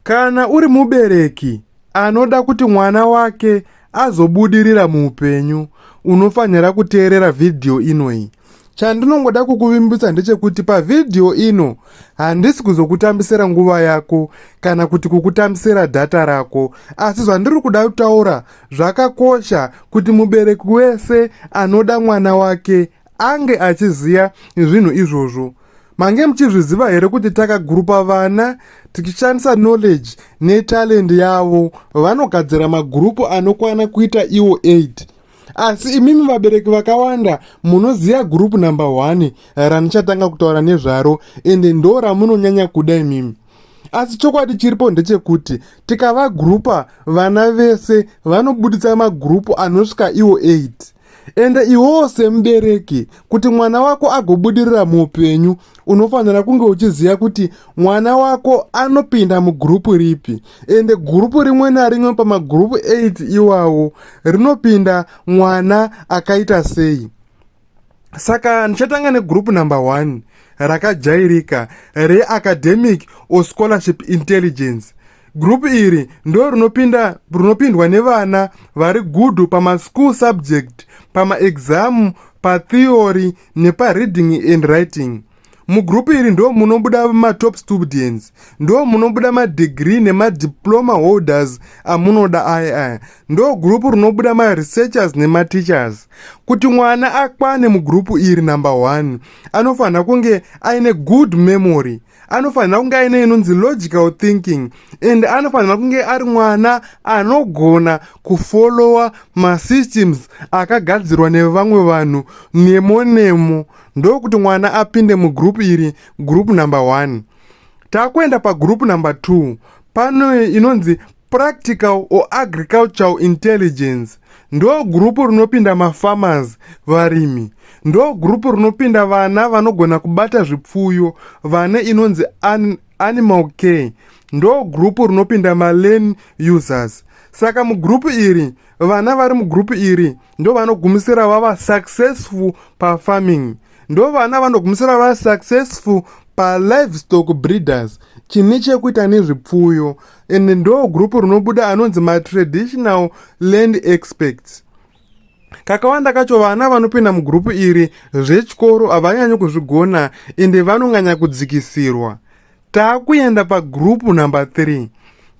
Kana uri mubereki anoda kuti mwana wake azobudirira muupenyu, unofanira kuteerera vhidhiyo inoyi. Chandinongoda kukuvimbisa ndechekuti pavhidhiyo ino handisi kuzokutambisira nguva yako kana kuti kukutambisira dhata rako, asi zvandiri kuda kutaura zvakakosha kuti mubereki wese anoda mwana wake ange achiziva zvinhu izvozvo mange muchizviziva here kuti takagurupa vana tichishandisa knowledge netalend yavo vanogadzira magurupu anokwana kuita iwo 8 asi imimi vabereki vakawanda munoziva gurupu number 1 ranichatanga kutaura nezvaro ende ndo ramunonyanya kuda imimi asi chokwadi chiripo ndechekuti tikavagurupa vana vese vanobuditsa magurupu anosvika iwo 8 ende iwewo semubereki kuti mwana wako agobudirira muupenyu unofanira kunge uchiziva kuti mwana wako anopinda mugurupu ripi ende gurupu rimwe narimwe pamagurupu 8 iwawo rinopinda mwana akaita sei saka ndichatanga negurupu number 1 rakajairika reacademic or scholarship intelligence Group iri ndo rinopinda rinopindwa nevana vari good pama school subject, pama exam, pa theory nepa reading and writing. Mugroup iri ndo munobuda ma top students, ndo munobuda ma degree nema diploma holders amunoda aya aya. Ndo group rinobuda ma researchers nema teachers. Kuti mwana akwane mugroup iri number one anofanira kunge aine good memory. anofanira kunge aine inonzi logical thinking and anofanira kunge ari mwana anogona kufollowa masystems akagadzirwa nevamwe vanhu nemo nemo ndokuti mwana apinde mugroup iri group number one takuenda pagroup number two pano inonzi Practical or Agricultural Intelligence ndo gurupu rinopinda mafarmers, varimi. Ndo gurupu rinopinda vana vanogona kubata zvipfuyo vane inonzi an animal care. Ndo gurupu rinopinda malen users. Saka mugurupu iri, vana vari mugurupu iri ndo vanogumisira vava successful pafarming. Ndo vana vanogumisira vava successful palivestock breeders chine chekuita nezvipfuyo. and ndo group rinobuda anonzi matraditional land experts kakawanda kacho vana vanopinda mugrupu iri zvechikoro havanyanyi kuzvigona ende vanonganya kudzikisirwa takuenda pagrupu number 3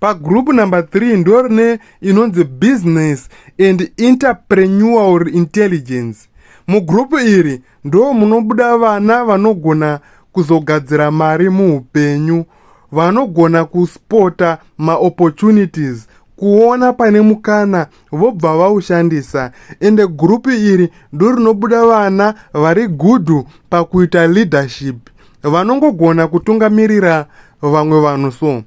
pagrupu number 3 ndo rine inonzi business and interprenual intelligence mugrupu iri ndo munobuda vana vanogona kuzogadzira mari muupenyu vanogona kuspota maopportunities kuona pane mukana vobva vaushandisa ende gurupu iri ndorinobuda vana vari gudhu pakuita leadership vanongogona kutungamirira vamwe vanhu so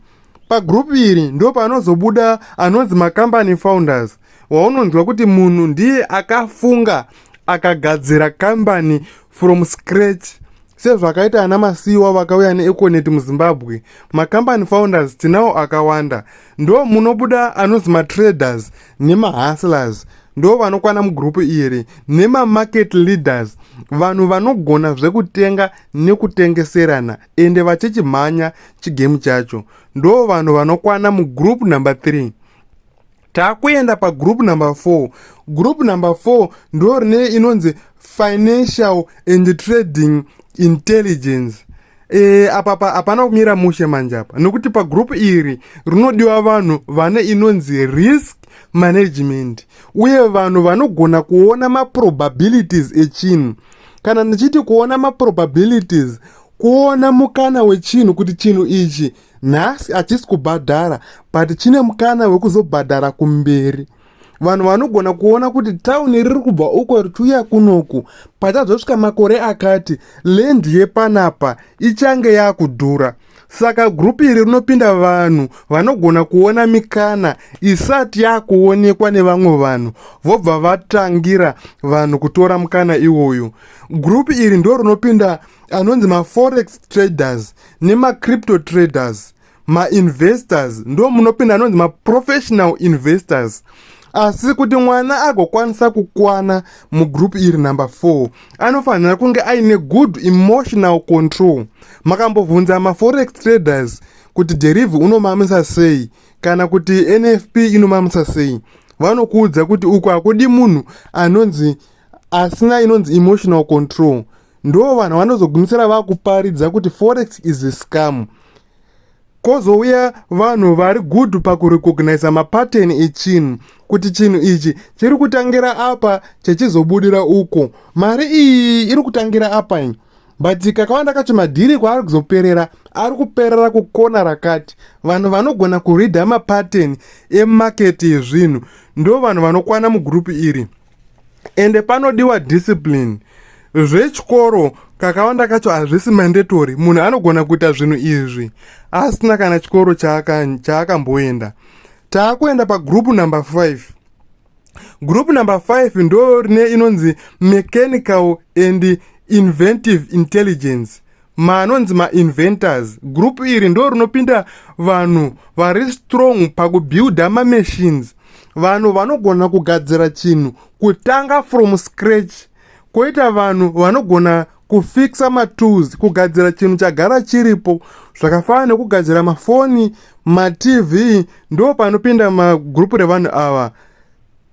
pagurupu iri ndopanozobuda anonzi macompany founders waunonzwa kuti munhu ndiye akafunga akagadzira kambani from scratch sezvakaita ana masiyiwa vakauya neeconet muzimbabwe macompany founders tinawo akawanda ndo munobuda anozi matraders nemahustlers ndo vanokwana mugrupu iri nemamarket leaders vanhu vanogona zvekutenga nekutengeserana ende vachichimhanya chigemu chacho ndo vanhu vanokwana mugrupu number 3 takuenda pagroup number 4 group number 4 ndo rine inonzi financial and trading intelligence e, apa pa hapana kumira mushe manje apa nokuti pagroup iri rinodiwa vanhu vane inonzi risk management uye vanhu vanogona kuona maprobabilities echinhu kana ndichiti kuona maprobabilities kuona mukana wechinhu kuti chinhu ichi nhasi hachisi kubhadhara but chine mukana wekuzobhadhara kumberi vanhu vanogona kuona kuti tauni riri kubva uko richiuya kunoku pachazosvika makore akati lendi yepanapa ichange yakudhura saka gurupu iri rinopinda vanhu vanogona kuona mikana isati yakuonekwa nevamwe vanhu vobva vatangira vanhu kutora mukana iwoyo gurupu iri ndo rinopinda anonzi maforex traders nemacrypto traders mainvestors ndo munopinda anonzi maprofessional investors asi kuti mwana agokwanisa kukwana mugroup iri number 4 anofanira kunge aine good emotional control makambobvunza maforex traders kuti derive unomamisa sei kana kuti nfp inomamisa sei vanokuudza kuti uku hakudi munhu anonzi asina inonzi emotional control ndo vanhu vanozogumisira vakuparidza kuti forex is a scam kozouya vanhu vari good pakurecognisa mapattern echinhu kuti chinhu ichi chiri kutangira apa chechizobudira uko mari iyi iri kutangira apa ini but kakawanda kacho madhiri kwaari kuzoperera ari kuperera kukona rakati vanhu vanogona kuridha mapattern emaketi ezvinhu ndo vanhu vanokwana mugurupu iri ende panodiwa discipline zvechikoro kakawanda kacho hazvisi mandatory munhu anogona kuita zvinhu izvi asina kana chikoro chaakamboenda chaka taakuenda pagroup number 5 group number 5 ndo rine inonzi mechanical and inventive intelligence ma anonzi mainventors group iri ndo rinopinda vanhu vari strong pakubuilda mamachines vanhu vanogona kugadzira chinhu kutanga from scratch koita vanhu vanogona kufixa matools kugadzira chinhu chagara chiripo zvakafanana nekugadzira mafoni matv ndo panopinda magroup revanhu ava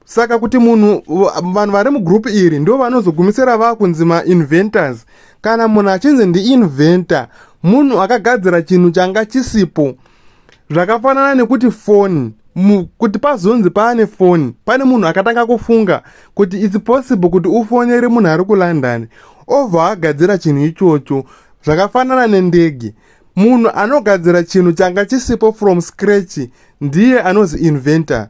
saka kuti munhu vanhu vari mugroup iri ndo vanozogumisira vakunzi mainventors kana munhu achinzi ndiinventa munhu akagadzira chinhu changa chisipo zvakafanana nekuti foni kuti pazonzi paane foni pane munhu akatanga kufunga kuti its possible kuti ufonere munhu ari kulondon obva agadzira chinhu ichocho zvakafanana nendege munhu anogadzira chinhu changa chisipo from scratch ndiye anozi inventor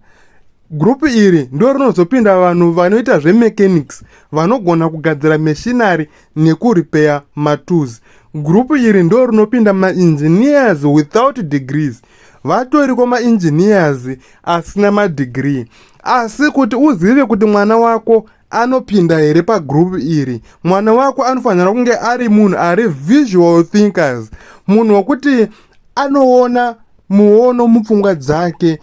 gurupu iri ndo rinozopinda vanhu vanoita zvemechanics vanogona kugadzira mashinary nekuripeya matools gurupu iri ndo rinopinda maengineers without degrees vatoriko maengineers asina madegree asi kuti uzive kuti mwana wako anopinda here pagroup iri mwana wako anofanira kunge ari munhu ari visual thinkers munhu wekuti anoona muono mupfungwa dzake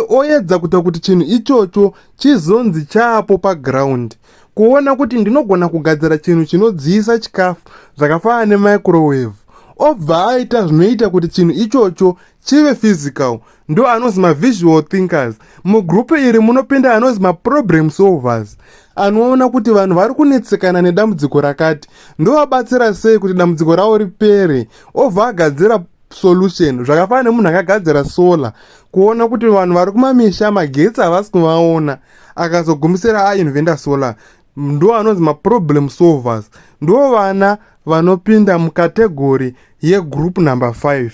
oyedza kuita kuti chinhu ichocho chizonzi chaapo paground kuona kuti ndinogona kugadzira chinhu chinodziyisa chikafu zvakafanana nemicrowave obva aita zvinoita kuti chinhu ichocho chive physical ndo anonzi mavisual thinkers mugrupu iri munopinda anonzi maproblem solvers anoona kuti vanhu vari kunetsekana nedambudziko rakati ndovabatsira sei kuti dambudziko ravo ripere obva agadzira solution zvakafanana nemunhu akagadzira solar kuona kuti vanhu vari kumamisha magetsi havasi kuvaona akazogumisira ainvenda solar ndo anonzi maproblem solvers ndo vana vanopinda mukategori yegroup number 5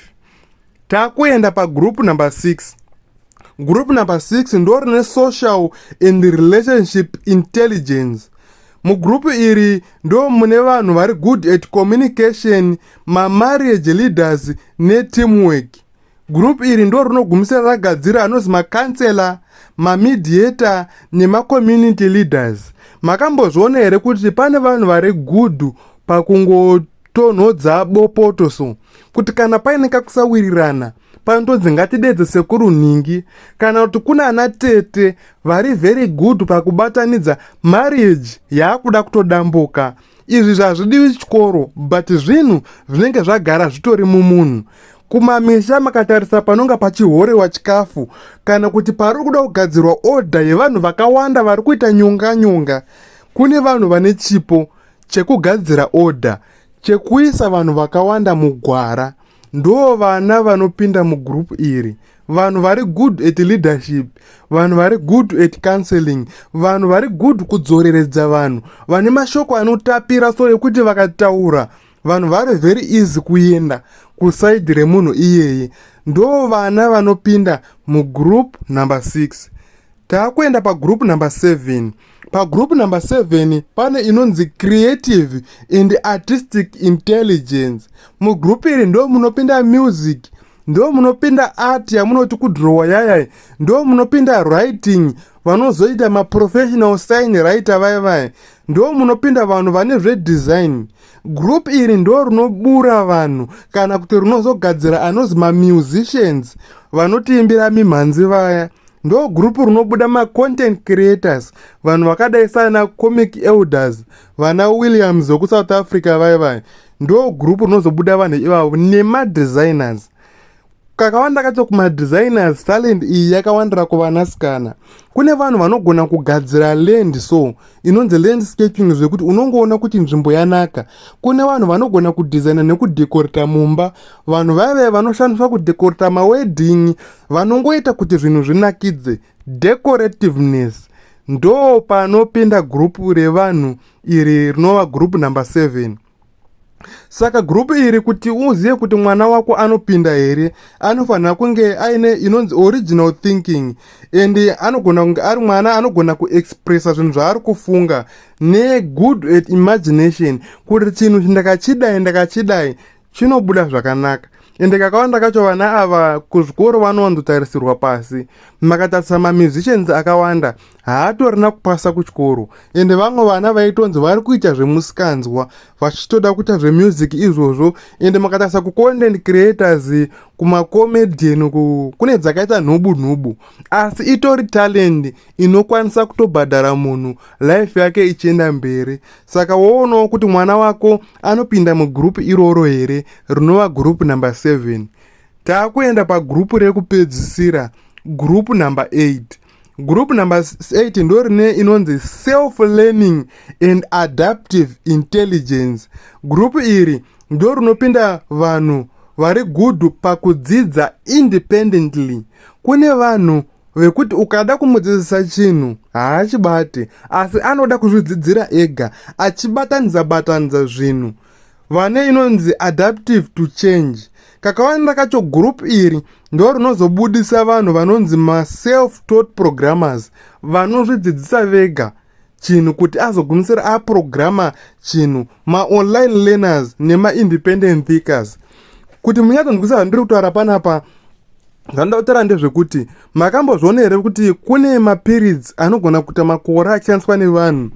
takuenda pagroup number 6 group number 6 ndo rine social and relationship intelligence mugrupu iri ndo mune vanhu vari good at communication mamarriage leaders neteamwork gurupu iri ndo rinogumisira ragadzira anonzi macounselor mamediator nemacommunity leaders makambozviona here kuti pane vanhu vari good pakungo tonhodza bopoto so kuti kana paine kakusawirirana panodzi ngatidedze sekuru nhingi kana kuti kuna ana tete vari very good pakubatanidza marriage yaakuda kutodambuka izvi zvazvidiwi chikoro but zvinhu zvinenge zvagara zvitori mumunhu kumamisha makatarisa panonga pachihorewa chikafu kana kuti pari kuda kugadzirwa odha yevanhu vakawanda vari kuita nyonga nyonga kune vanhu vane chipo chekugadzira order chekuisa vanhu vakawanda mugwara ndo vana vanopinda mugroup iri vanhu vari good at leadership vanhu vari good at counseling vanhu vari good kudzoreredza vanhu vane mashoko anotapira so ekuti vakataura vanhu vari very easy kuenda kusaidi remunhu iyeye ndo vana vanopinda mugroup number 6 taakuenda pagroup number 7 pagroup number 7 pane inonzi creative and artistic intelligence mugroup iri ndo munopinda music ndo munopinda art yamunoti kudrowa yayai ndo munopinda writing vanozoita maprofessional sign writer vaya vaya ndo munopinda vanhu vane zvedesign group iri ndo rinobura vanhu kana kuti rinozogadzira anozi mamusicians vanotiimbira mimhanzi vaya ndo group rinobuda macontent creators vanhu vakadai saana comic elders vana williams vekusouth africa vaye vaye ndo group rinozobuda vanhu ivavo nemadesigners kakawanda kacho kumadesigners talent iyi yakawandira kuvanasikana kune vanhu vanogona kugadzira land so inonzi landscaping zvekuti unongoona kuti nzvimbo yanaka kune vanhu vanogona kudhizaina nekudhekorita mumba vanhu vaive vanoshandiswa kudhekorita mawedhingi vanongoita kuti zvinhu zvinakidze decorativeness ndo panopinda gurupu revanhu iri rinova gurupu number 7 Saka group iri kuti uzive kuti mwana wako anopinda here anofanira kunge aine inonzi original thinking and anogona kunge ari mwana anogona kuexpressa zvinhu zvaari kufunga negood at imagination kuti chinhu chindakachidai ndakachidai chinobuda zvakanaka ende kakawanda kacho vana ava kuzvikoro vanondotarisirwa pasi makatarisa mamusicians akawanda haatorina kupasa kuchikoro ende vamwe vana vaitonzi vari kuita zvemusikanzwa vachitoda kuita zvemusic izvozvo ende makatarisa kucontent creators kumacomedian uku kune dzakaita nhubu nhubu asi itori talent inokwanisa kutobhadhara munhu life yake ichienda mberi saka woonawo kuti mwana wako anopinda mugroup iroro here rinova group number 7 taakuenda pagroup rekupedzisira group number 8 Group number 8 ndo rine inonzi self learning and adaptive intelligence. Group iri ndo rinopinda vanhu vari good pakudzidza independently. Kune vanhu vekuti ukada kumudzidzisa chinhu haachibate asi anoda kuzvidzidzira ega achibatanidza batanidza zvinhu. Batanza, vane inonzi adaptive to change kakawanda kacho group iri ndo rinozobudisa vanhu vanonzi maself taught programmers vanozvidzidzisa vega chinhu kuti azogumisira aprograma chinhu maonline learners nemaindependent thinkers kuti munyatsonzwisa zvandiri kutaura panapa zvandoda kutaura ndezvekuti makambozviona here kuti kune mapiritsi anogona kuita makore achishandiswa nevanhu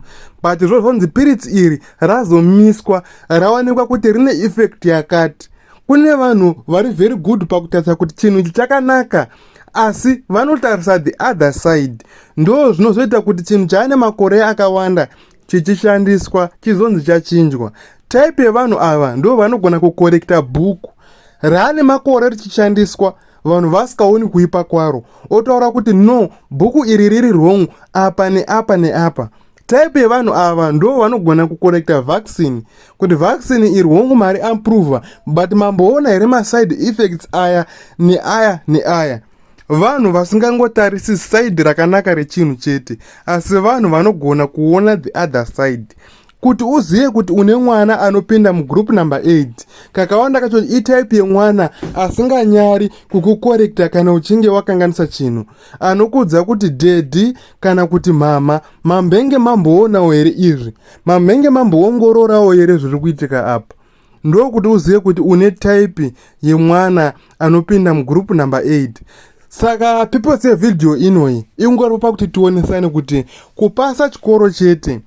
but zvo zvonzi piritsi iri razomiswa rawanikwa kuti rine effect yakati kune vanhu vari very good pakutarisa kuti chinhu ichi chakanaka asi vanotarisa the other side ndo zvinozoita kuti chinhu chaane makore akawanda chichishandiswa chizonzi chachinjwa type yevanhu ava ndo vanogona kukorekta bhuku raane makore richishandiswa vanhu vasikaoni kuipa kwaro otaura kuti no bhuku iri riri wrong apa neapa neapa type yevanhu ava ndo vanogona kukorekta vaccine kuti vaccine iri wrong mari amprova but mamboona here maside effects aya neaya neaya vanhu vasingangotarisi side rakanaka rechinhu chete asi vanhu vanogona kuona the other side kuti uzive kuti une mwana anopinda mugroup number 8 kakawanda kacho itype yemwana asinganyari kukukorekta kana uchinge wakanganisa chinhu anokudza kuti dedi kana kuti mhama mambenge mamboonawo here izvi mambenge mamboongororawo here zviri kuitika apa ndokuti uzive kuti une type yemwana anopinda mugroup number 8 saka purpose yevhidhiyo inoyi ikungoripa kuti tionesane kuti kupasa chikoro chete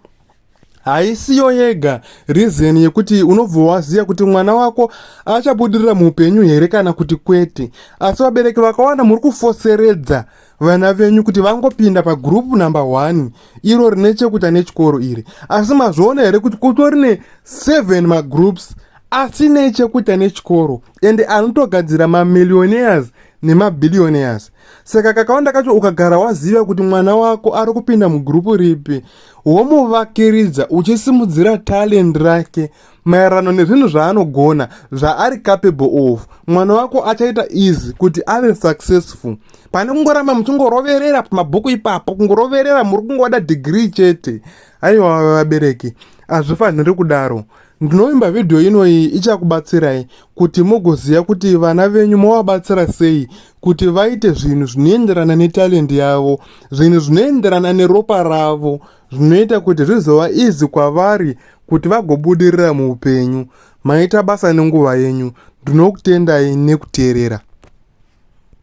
haisiyo yega reason yekuti unobva waziva kuti mwana wako achabudirira muupenyu here kana kuti kwete asi vabereki vakawanda muri kufoseredza vana venyu kuti vangopinda pagroup number one iro rine chekuita nechikoro iri asi mazviona here kuti kutori ne seven magroups asine chekuita nechikoro ende anotogadzira mamillionaires nemabillionaires saka kakawanda kacho ukagara waziva kuti mwana wako ari kupinda mugrupu ripi womuvakiridza uchisimudzira talend rake maererano nezvinhu zvaanogona zvaari capable of mwana wako achaita easy kuti ave successful pane kungoramba muchingoroverera pamabhuku ipapo kungoroverera muri kungoda degree chete aiwa vabereki hazvifanhiri kudaro ndinovimba vhidhiyo inoyi ichakubatsirai kuti mugoziva kuti vana venyu movabatsira sei kuti vaite zvinhu zvinoenderana netalendi yavo zvinhu zvinoenderana neropa ravo zvinoita kuti zvizova izi kwavari kuti vagobudirira muupenyu. Maita basa nenguva yenyu. Ndinokutendai nekuteerera.